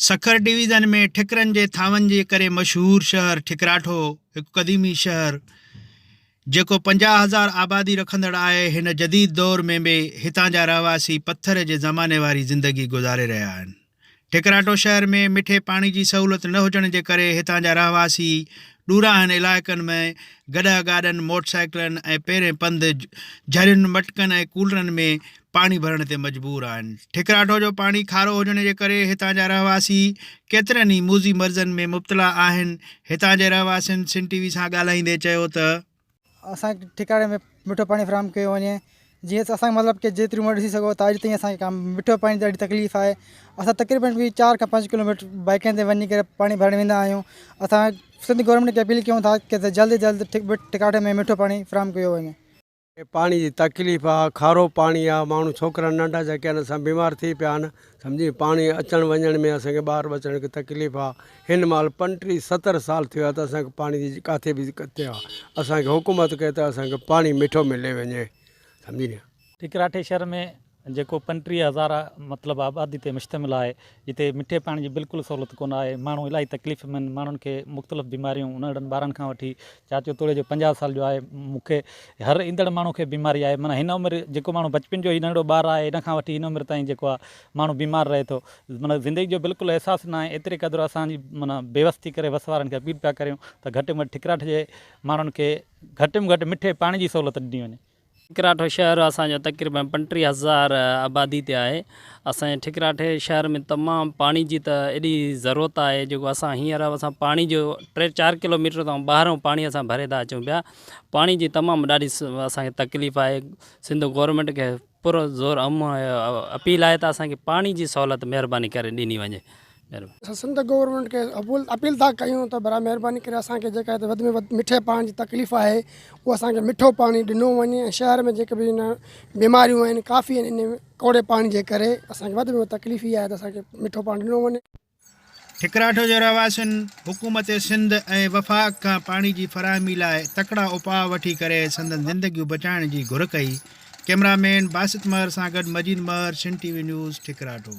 Sukkur division ۾ ٺڪرن جي ٿانون جي ڪري مشهور شهر ٺڪراٺو هڪ قديمي شهر جيڪو پنجاهه هزار آبادي رکندڙ آهي هن جديد دور ۾ به هتان جا رهواسي پٿر جي زماني واري زندگي گذاري رهيا آهن ٺڪراٺو شهر ۾ مٺي پاڻي جي سهولت نه هجڻ جي ڪري هتان جا رهواسي ڏوراهن علائقن ۾ گڏهه گاڏن موٽرسائيڪلن ۽ پيرين پنڌ جھرين مٽڪن ۽ ڪولرن ۾ پاڻي ڀرڻ تي مجبور آهن. ٺڪراٺو جو پاڻي کارو هجڻ جي ڪري هتان جا رهواسي ڪيترن ئي موذي مرضن ۾ مبتلا آهن. هتان جي رهواسين سنڌ ٽي وي سان ڳالهائيندي چيو ته. اسان کي ٺڪراٺي ۾ مٺو پاڻي فراهم ڪيو وڃي جيئن اسان کي مطلب ڪي جيتري عمر ڏسي سگهو ته اڄ تائين اسان کي مٺو پاڻي جي ڏاڍي تڪليف آهي اسان تقريبن به چار کان پنج ڪلوميٽر بائيڪن تي وڃي ڪري پاڻي ڀرڻ ويندا آهيون اسان سنڌ گورنمينٽ کي اپيل ڪيون ٿا ته جلد جلد ٺڪراٺي ۾ مٺو پاڻي فراهم ڪيو وڃي. کي پاڻي جي تڪليف آ کارو پاڻي آ ماڻهو ڇوڪرا ننڍا جيڪي ان سان بيمار ٿي پيا آهن سمجهي پاڻي اچڻ وڃڻ ۾ اسان کي ٻاهر اچڻ کي تڪليف آ هن مهل پنٽيهه ستر سال ٿي ويا ته اسان کي پاڻي جي ڪاٿي به دقت نه آ اسان کي حڪومت ڪي ته اسان کي پاڻي مٺو ملي وڃي سمجهي نه ٺڪراٺي شھر ۾ جيڪو پنٽيهه هزار مطلب آبادي تي مشتمل آهي، جتي مٺي پاڻي جي بلڪل سهولت ڪونه آهي، ماڻهو الاهي تڪليف ۾ آهن، ماڻهن کي مختلف بيماريون ننڍڙن ٻارن کان وٺي چاچو توڙي جو پنجاهه سال جو آهي، مون کي هر ايندڙ ماڻهو کي بيماري آهي، معنيٰ هن عمر جيڪو ماڻهو بچپن جو هي ننڍڙو ٻار آهي ان کان وٺي هن عمر تائين جيڪو آهي ماڻهو بيمار رهي ٿو، معنيٰ زندگي جو بلڪل احساس نه آهي، ايتري قدر اسان جي معنيٰ بيوس ٿي ڪري وس وارن کي اپيل پيا ڪريون ته گهٽ ۾ گهٽ ٺڪراٺ جي ماڻهن کي گهٽ ۾ گهٽ مٺي پاڻي جي سهولت ڏني وڃي. ٺڪراٺو شهر اسان جو تقريبن پنٽيهه هزار آبادي تي آهي. اسان جي ٺڪراٺي شهر ۾ تمام پاڻي جي ته ايڏي ضرورت آهي جيڪو اسان هينئر اسان پاڻي جو ٽي چار ڪلو ميٽر تائون ٻاهرئون پاڻي اسان ڀري ٿا اچون پيا. پاڻي جي تمام ڏاڍي اسان کي تڪليف آهي. سنڌ گورنمينٽ کي پر زور اپيل آهي ته اسان کي پاڻي جي سهولت مهرباني ڪري ڏني وڃي. اسان سنڌ گورنمينٽ کي اپيل ٿا ڪيون ته برائي مهرباني ڪري اسان کي جيڪا هتي وڌ ۾ وڌ مٺي پاڻي جي تڪليف آهي اهو اسان کي مٺو پاڻي ڏنو وڃي ۽ شهر ۾ جيڪي به هن بيماريون آهن ڪافي آهن ان ڪوڙي پاڻي جي ڪري اسان کي وڌ ۾ وڌ تڪليف هي آهي ته اسان کي مٺو پاڻي ڏنو وڃي ٺڪراٺ جي رهواسين حڪومت سنڌ ۽ وفاق کان پاڻي جي فراهمي لاء تڪڙا اپاء وٺي ڪري سندن زندگيون بچائڻ جي گهر ڪئي ڪيمرا مين باسط مهر سان گڏ Majeed Mehar Sindh T V news ٺڪراٺو.